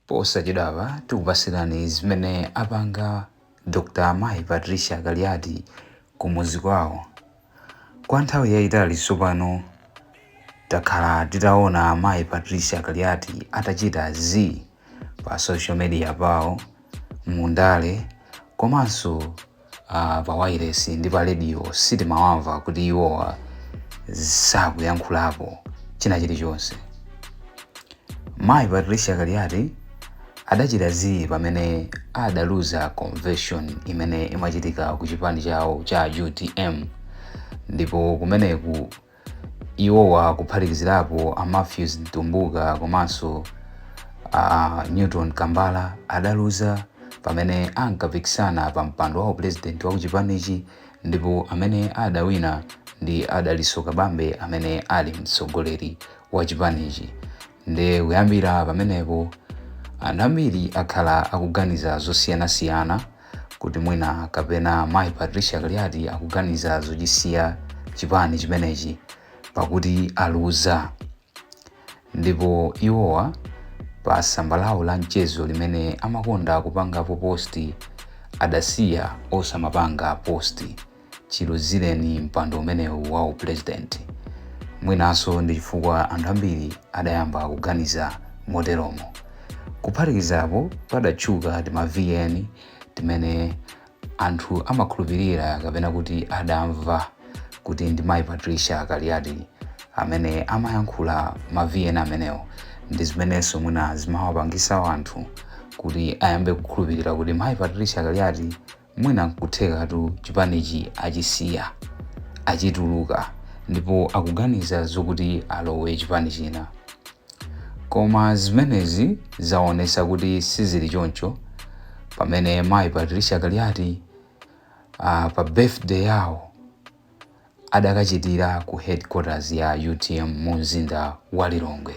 Posachedwapa tikupatsirani zimene apanga Dr. Mayi Patricia Kaliati kumudzi kwawo. Kwa nthawi yayitali tsopano takhala titaona Mayi Patricia Kaliati atachita zii pa social media pawo, mu ndale komanso uh, pa wailesi ndi pa radio sitimawamva kuti iwowa sakuyankhulapo china chilichonse mayi patricia kaliati adachita zii pamene adaluza convention imene imachitika ku chipani chawo cha utm ndipo kumeneku Iwowa kuphatikizirapo a Mathews Mtumbuka komanso a Newton Kambala adaluza pamene ankapikisana pa mpando wa upresident wa kuchipanichi ndipo amene adawina ndi a Dalitso Kabambe amene ali mtsogoleri wa chipanichi. Nde kuyambira pamenepo anthu ambiri akhala akuganiza zosiyanasiyana kuti mwina kapena mayi Patricia Kaliati akuganiza zochisiya chipani chimenechi pakuti aluza. Ndipo iwowa pa tsamba lawo la mchezo limene amakonda kupangapo post adasiya osamapanga post. chiluzireni mpando umenewu wa upresident. Mwinanso ndi chifukwa anthu ambiri adayamba kuganiza moteromo. Kuphatikizapo, padatchuka tima VN timene anthu amakhulupirira kapena kuti adamva kuti ndi mayi Patricia Kaliati amene amayankhula ma VN amenewo ndi zimenenso mwina zimawapangisa anthu kuti ayambe kukhulupirira kuti mayi Patricia Kaliati Mwina nkuthekatu chipanichi achisiya, achituluka ndipo akuganiza zokuti alowe chipani china. Koma zimenezi zaonetsa kuti sizili choncho pamene mayi Patricia Kaliati pa birthday yawo adakachitira ku headquarters ya utm mu mzinda wa Lilongwe.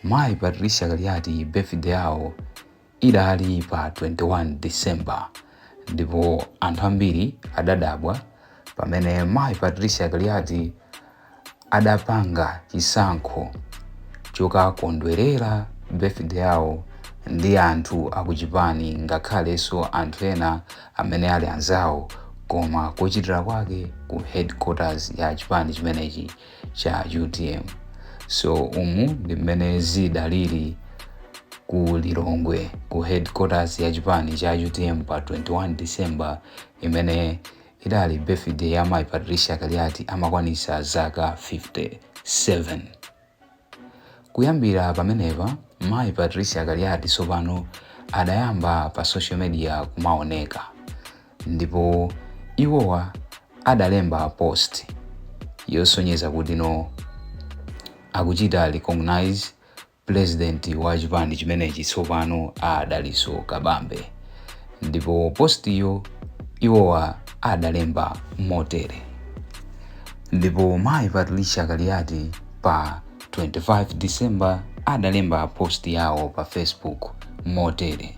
Mayi Patricia Kaliati birthday yawo Idali pa 21 December ndipo anthu ambiri adadabwa pamene Mayi Patricia Kaliati adapanga chisankho chokakondwerera birthday yawo ndi anthu akuchipani ngakhalenso anthu ena amene ali anzawo koma kochitira kwake ku headquarters ya chipani chimenechi cha utm so umu ndi mmene zidalili ku lilongwe ku headquarters ya chipani cha utm pa 21 december imene idali birthday ya mayi patricia kaliati amakwanisa zaka 57 kuyambira pamenepa mayi patricia kaliati tsopano adayamba pa social media kumaoneka Ndipo iwowa adalemba post yosonyeza kuti no akuchita recognize president wa chipani chimenechi tsopano a Dalitso Kabambe. Ndipo postiyo iwowa adalemba motere. Ndipo mayi Patricia Kaliati pa 25 December adalemba post yawo pa Facebook motere.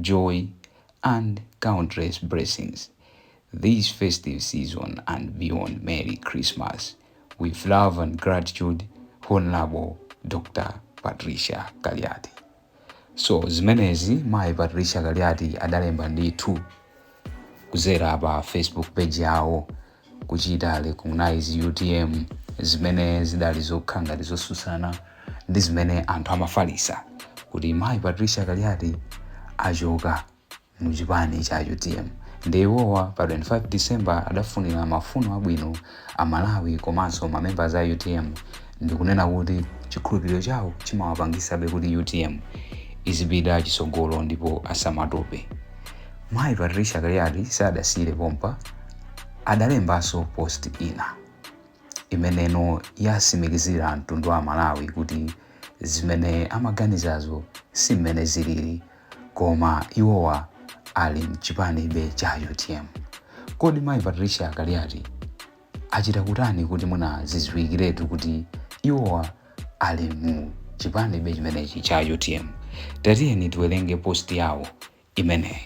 joy and countless blessings this festive season and beyond merry christmas with love and gratitude honorable dr patricia kaliati so zimenezi mayi patricia kaliati adalemba ndithu kudzera pa facebook page yawo kuchita recognize utm zimene zidali zokhala ngati zotsutsana ndi zimene anthu amafalisa kuti mayi patricia kaliati achoka mu chipani cha utm ndi iwowa pa 25 december adafunira mafuno abwino Amalawi komanso ma members a utm ndikunena kuti chikhulupiriro chawo chimawapangisabe kuti utm izipita chisogolo ndipo asamatope. Mayi Patricia Kaliati sadasiire pompa, adalembanso post ina imeneno yasimikizira mtundu wa Amalawi kuti zimene amaganizazo si mmene zilili. koma iwowa ali mchipanibe cha utm kodi mayi patricia kaliati achita kutani kuti mwina zidziwikiretu kuti iwowa ali mu chipanibe chimenechi cha utm tatiyeni tiwerenge post yawo imeneyi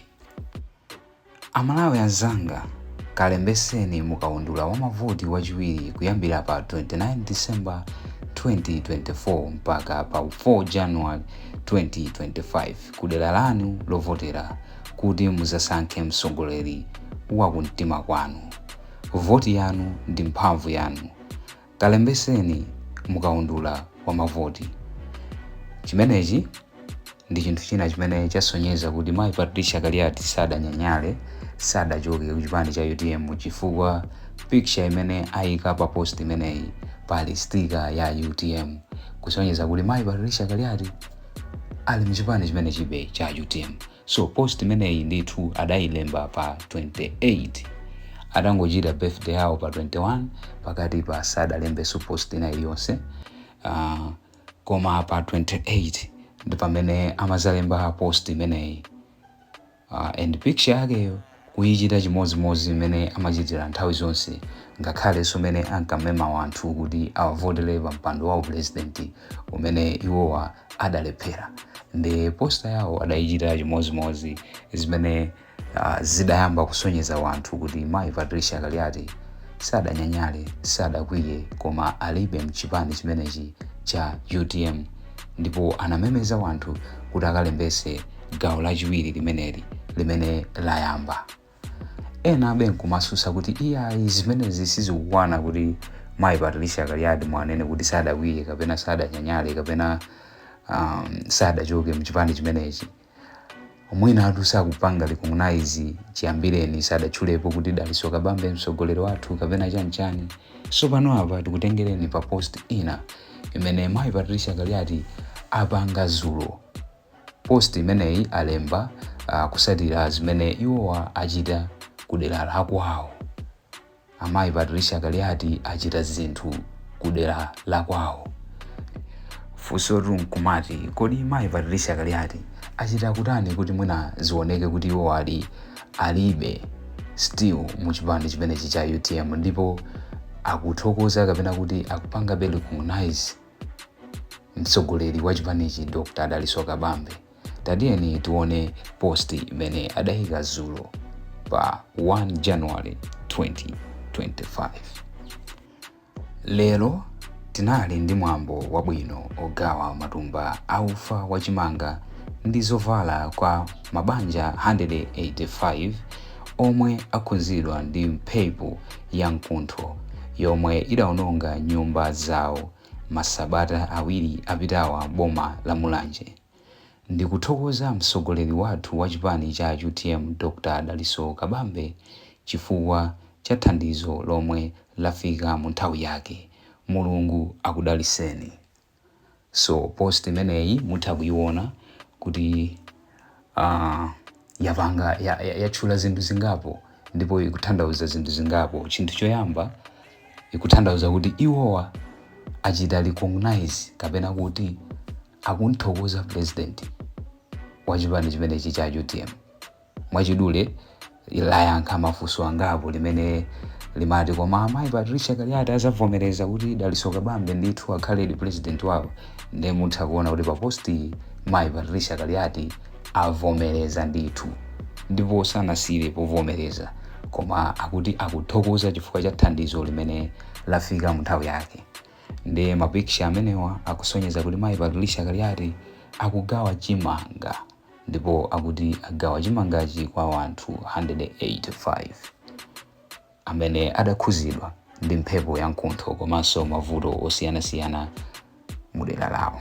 Amalawi anzanga, kalembeseni mukaundula wa mavoti wachiwiri kuyambira pa 29 December 2024 mpaka pa 4 January 2025 kudera lanu lovotera kuti muzasankhe mtsogoleri wakumtima kwanu. Voti yanu ndi mphamvu yanu. Kalembeseni mukaundula wa mavoti. Chimenechi ndi chinthu china chimene chasonyeza kuti mayi Patricia Kaliati sadanyanyale, sadachoke ku chipani cha utm chifukwa picture imene ayika pa post imeneyi pali sticker ya utm kusonyeza kuti mayi Patricia Kaliati ali mu chipani chimenechibe cha utm. So post imeneyi ndithu adayilemba pa 28 atangochita birthday yawo pa 21 pakatipa sadalembenso post ina iliyonse uh, koma pa 28 ndi pamene amazalemba post imeneyi uh, and picture yakeyo kuichita chimodzimodzi mmene amachitira nthawi zonse ngakhalenso mmene ankamema wanthu kuti awavotele pa mpando wa upulezidenti umene iwowa adalephera ndi posta yawo adaichita chimodzimodzi zimene ah, zidayamba kusonyeza wanthu kuti mayi patricia kaliati sadanyanyale sadakwiye koma alibebe mchipani chimenechi cha utm ndipo anamemeza wanthu kuti akalembese gawo lachiwiri limeneli limene layamba ena amvekere nkumasusa kuti iyayi zimenezi sizikukwana kuti mayi patricia kaliati mwanena kuti sadakwiye kapena sadanyanyale kapena um, sadachoke mchipani chimenechi mwinatu sakupanga recognize chiyambireni sadatchulepo kuti dalitso kabambe mtsogoleri wathu kapena chanichani so pano apa tikutengereni pa post ina imene mayi patricia kaliati apanga zulo Post imeneyi alemba kusatira zimene iwowa achita ku dera la kwawo. Amayi Patricia Kaliati achita zinthu ku dera la kwawo. Funsotu nkumati kodi mayi Patricia Kaliati achita kuti chani kuti mwina zioneke kuti iwowadi alibe still mu chipani chimenechi cha utm ndipo akuthokoza kapena kuti akupangabe recognize mtsogoleri wa chipanichi dr dalitso kabambe tatiyeni tione post imene adayika zulo pa 1 january 2025 lero tinali ndi mwambo wabwino ogawa matumba aufa wachimanga ndi zovala kwa mabanja 185 omwe akhuzidwa ndi mphepo ya mkuntho yomwe idaononga nyumba zawo masabata awiri apitawa m'boma la Mulanje. Ndikuthokoza mtsogoleri wathu wa chipani cha utm Dr Dalitso Kabambe chifukwa cha thandizo lomwe lafika mu nthawi yake. Mulungu akudalitseni. so post imeneyi mutha kuiona kuti uh, yapanga yatchula ya, ya zinthu zingapo ndipo ikuthandauza zinthu zingapo chinthu choyamba ikuthandauza kuti iwowa achita recognize kapena kuti akumthokoza president wa chipani chimenechi cha utm mwachidule layankha mafunso angapo limene limati koma amayi patricia kaliati azavomereza kuti dalitso kabambe ndithu akhaledi president wawo ndiye mutha kuona kuti papostiyi mayi patricia kaliati avomereza ndithu ndipo sanasiyire pa kuvomereza koma akuti akuthokoza chifukwa cha thandizo limene lafika munthawi yake ndiye mapikicha amenewa akusonyeza kuti mayi patricia kaliati akugawa chimanga ndipo akuti agawa chimangachi kwa anthu 185 amene adakhuzidwa ndi mphepo ya mkuntho komanso mavuto osiyanasiyana mu dera lawo.